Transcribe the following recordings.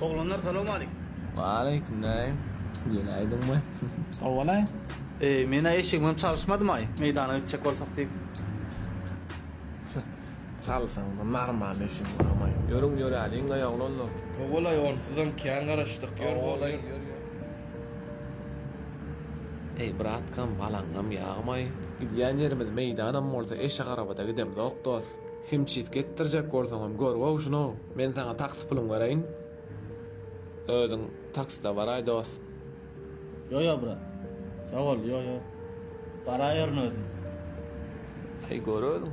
Oglanlar salam aleykum. Waleýkim näim. Ýene aýdyňmy? Howwalaý. Eý, men-ä eşigimem çalyşmadymaý, meýdana gitjek bolsak diýip. Çalyşaňda normal eşiň barmaý. Ýörüň ýöräliňlaý oglanlar. Howwalaý onsuzam kän garaşdyk ýör bol ýör. Eý bratkam balaňňam ýagmaý. Gidýän ýerimiz meýdanam bolsa eşik arabada gidemzok dos. Himçisk etdirjek bolsaňam gör-gow şuny-ow. Men saňa taksi puluňy bereýin. Özüň takside baraý, dost. Ýo-ýo, brat. Sag bol, ýo-ýo. Baraýaryn özüm. Heý, gör özüň.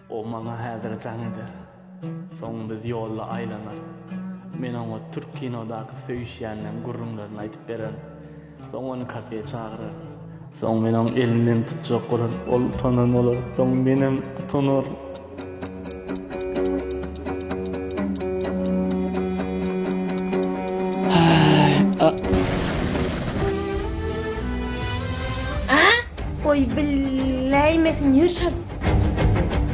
O maňa häzir jaň eder. Soň biz ýolda aýlanar. Men oňa türk kinodaky söýüşýänleň gürrüňlerini aýdyp bererin. Soň ony kafeýe çagyraryn. Soň men oň elinden tutjak bolaryn. Ol utanan bolar. Soň menem utanaryn. Goý biläýmesin, ýör çalt!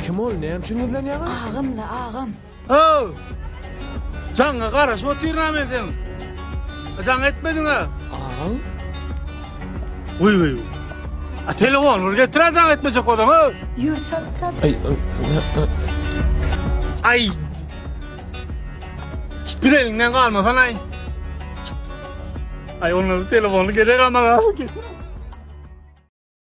Kim ol? Näme üçin gizlenýäňiz? Agam-la, agam. How! Jaňa garaşyp otyryn-a men seniň. Jaň etmediň-a. Agam? Wiý-wiý. A telefony bir getir-ä jaň etmejek bolsaň, how! Ýör, çalt, çalt. Aý, Aý! Bir eliňden galmasan-aý. Aý, onda bir telefony gerek-ä maňa.